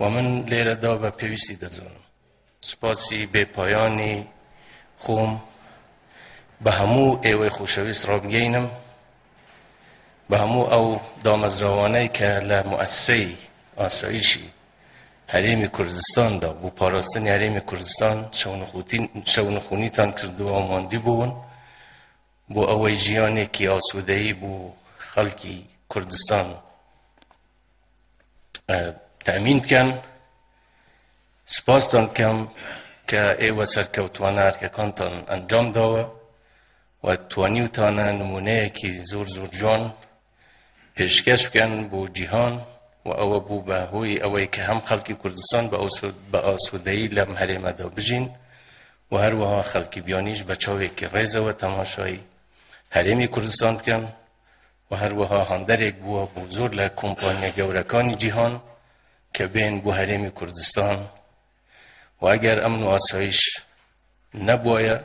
و من لێرەدا بە پێویستی دەزانم سوپاسی بێ پایانی خۆم بە هەموو ئێوەی خۆشەویست ڕابگەینم بە هەموو ئەو دامەزراوانەی کە لە مؤسسەی ئاسایشی هەرێمی کوردستاندا بۆ پاراستنی هەرێمی کوردستان شەونخونیتان کردووە و ماندی بوون بۆ ئەوەی ژیانێکی ئاسوودەیی بۆ خەڵکی کوردستان تامین بکەن سپاستان کەم کە ئێوە سەرکەوتوانە ئەرکەکانتان ئەنجام داوە و توانیوتانە نمونەیەکی زۆر زۆر جوان پێشکەش بکەن بۆ جیهان و ئەوە بوو بە هۆی ئەوەی کە هەم خەڵکی کوردستان بە ئاسوودەی لەم هەرێمەدا بژین و هەروەها خەڵکی بیانیش بە چاوێکی ڕێزەوە تەماشای هەرێمی کوردستان بکەن و هەروەها هاندەرێک بووە بۆ زۆر لە کۆمپانیا گەورەکانی جیهان کە بێن بۆ هەرێمی کوردستان و ئەگەر ئەم نواسایش نەبووە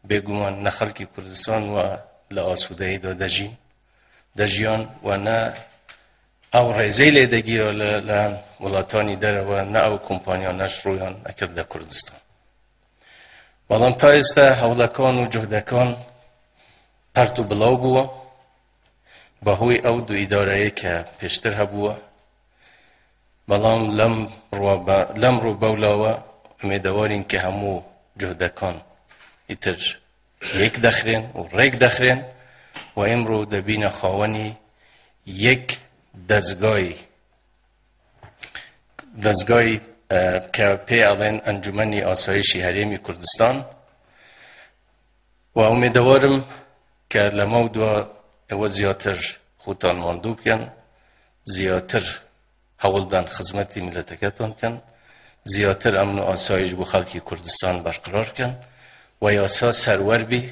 بێگومان نە خەڵکی کوردستان و لە ئاسوودەیدا دەژین دەژیان و نە ئەو ڕێزەی لێ دەگیرە لە لایەن وڵاتانی دەرەوە نە ئەو کۆمپانیا نەشڕۆیان ئەکرد لە کوردستان بەڵام تا ئێستا هەوڵەکان و جهدەکان پەرت و بڵاو بووە بەهۆی ئەو دوو ئیدارەیە کە پێشتر هەبووە بەڵام لەم لەم ڕوو بەولاوە ئومێدەوارین کە هەموو جهدەکان ئیتر یەک دەخرێن و ڕێک دەخرێن و ئمڕۆ دەبینە خاوەنی یەک دەستگای دەستگای کە پێ ئەڵێن ئەنجومنی ئاسایشی هەرێمی کوردستان و ئومێدەوارم کە لەمە و دوا ئەوە زیاتر خۆتان ماندوو بکەن زیاتر هەوڵدان خزمەتی میلەتەکەتان بکەن زیاتر ئەمن و ئاسایش بۆ خەڵکی کوردستان بەرقرار بکەن و یاسا سەروەر بی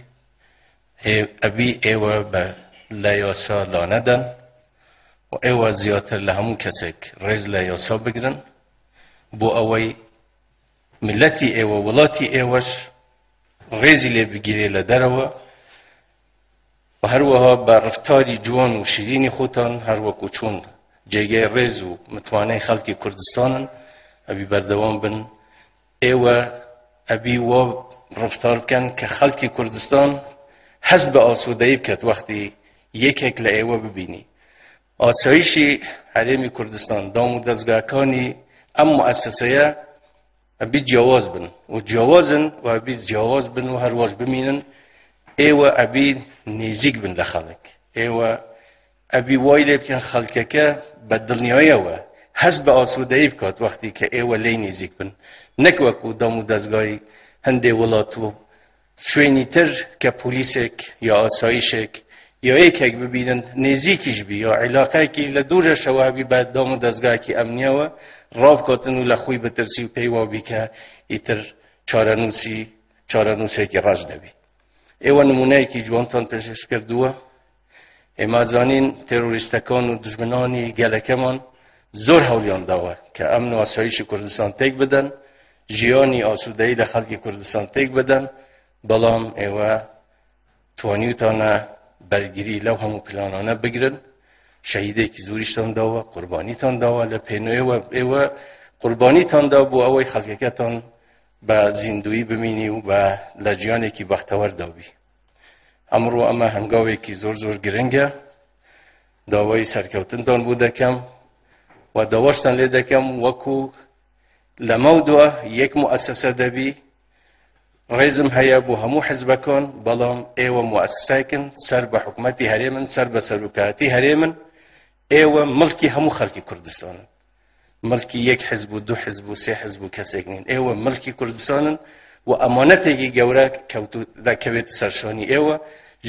ئەبی ئێوە بە لە یاسا لانەدەن و ئێوە زیاتر لە هەموو کەسێک ڕێز لە یاسا بگرن بۆ ئەوەی ملەتی ئێوە وڵاتی ئێوەش ڕێزی لێ بگیرێ لە دەرەوە و هەروەها بە ڕفتاری جوان و شیرینی خۆتان هەروەکو چۆن جێگەی ڕێز و متمانەی خەڵکی کوردستانن ئەبی بەردەوام بن ئێوە ئەبی وە ڕفتار بکەن کە خەڵکی کوردستان هەست بە ئاسوودەی بکات وەختی یەکێک لە ئێوە ببینی ئاسایشی هەرێمی کوردستان، دام و دەزگاکانی ئەم موئەسەسەیە ئەبی جیاواز بن و جیاوازن و ئەبی جیاواز بن و هەرواش بمینن ئێوە ئەبی نێزیک بن لە خەڵک ئێوە ئەبی وای لێ بکەن خەڵکەکە بە دڵنیایەوە هەست بە ئاسوودەی بکات وەختی کە ئێوە لی نێزیک بن نەک وەکو دام و دەستگای هەندێ وڵات و شوێنی تر کە پۆلیسێک یا ئاسایشێک یا یەکێک ببینن نێزیکیش بی یا عیلاقایکی لە دوورەشەوە بی بە دام و دەستگاکی ئەمنیەوە ڕاوکاتن و لە خۆی بترسی و پێی وابی کە ئیتر چارەنووسی چارەنووسێکی ڕاش دەبی ئێوە نمونەیەکی جوانتان پێشش کردووە ئێمە زانین تێرۆریستەکان و دژمنانی گەلەکەمان زۆر هەولیان داوە کە ئەم نواسایشی کوردستان تێک بدەن ژیانی ئاسوودەی لە خەڵکی کوردستان تێک بدەن بەڵام ئێوە توانیوتانە بەرگری لەو هەموو پلانانە بگرن شەهیدێکی زوریشتان داوە قوربانیتان داوە لە پێنوێوە ئێوە قوربانیتان دا بۆ ئەوەی خەڵکەکەتان بە زیندوی بمینی و بە لە جیانێکی بەختەوەردابی ئەمڕۆ ئەمە هەنگاوێکی زۆر زۆر گرنگە داوای سەرکەوتنتان بوو دەکەم و داواشتان لێ دەکەم وەکو لەمە دووە یەک موئسسە دەبی ڕێزم هەیە بۆ هەموو حزبەکان بەڵام ئێوە موئسسایکن سەر بە حکوومەتتی هەرێمن سەر بە سەرکاتی هەرێمن ئێوە ملکی هەموو خەڵکی کوردستانن ملکی یەک حزب و دو حزب و سێ حزب و کەسێک نین ئێوە ملکی کوردستانن و ئەمانەتێکی گەورە کەوتوت دەکەوێت سەرشۆنی ئێوە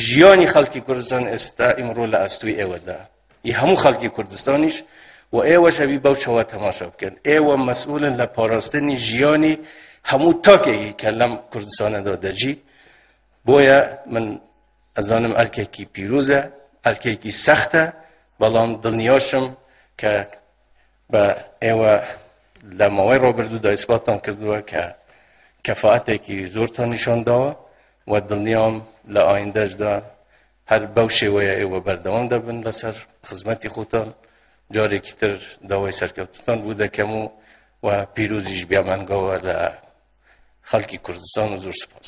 ژیانی خەڵکی کوردستان ئێستا ئیمڕۆ لە ئەستوی ئێوەدا ی هەموو خەڵکی کوردستانیش و ئێوە شەوی بەو شەوە تەماشا بکەن ئێوە مەسئولن لە پاراستنی ژیانی هەموو تاکێکی کە لەم کوردستانەدا دەجی بۆیە من ئەزانم ئەرکێکی پیرۆزە ئەرکێکی سەختە بەڵام دڵنیاشم کە بە ئێوە لە ماوەی ڕۆبردوودا ئیسباتان کردووە کە کەفاعتێکی زۆرتان نیشان داوە و دڵنیام لە ئایندەشدا هەر بەو شێوەیە ئێوە بەردەوام دەبن لەسەر خزمەتی خۆتان جارێکی تر داوای سەرکەوتتان بوو دەکەم و و پیرۆزیش بیامەنگەوە لە خەڵکی کوردستان و زۆر سپاس.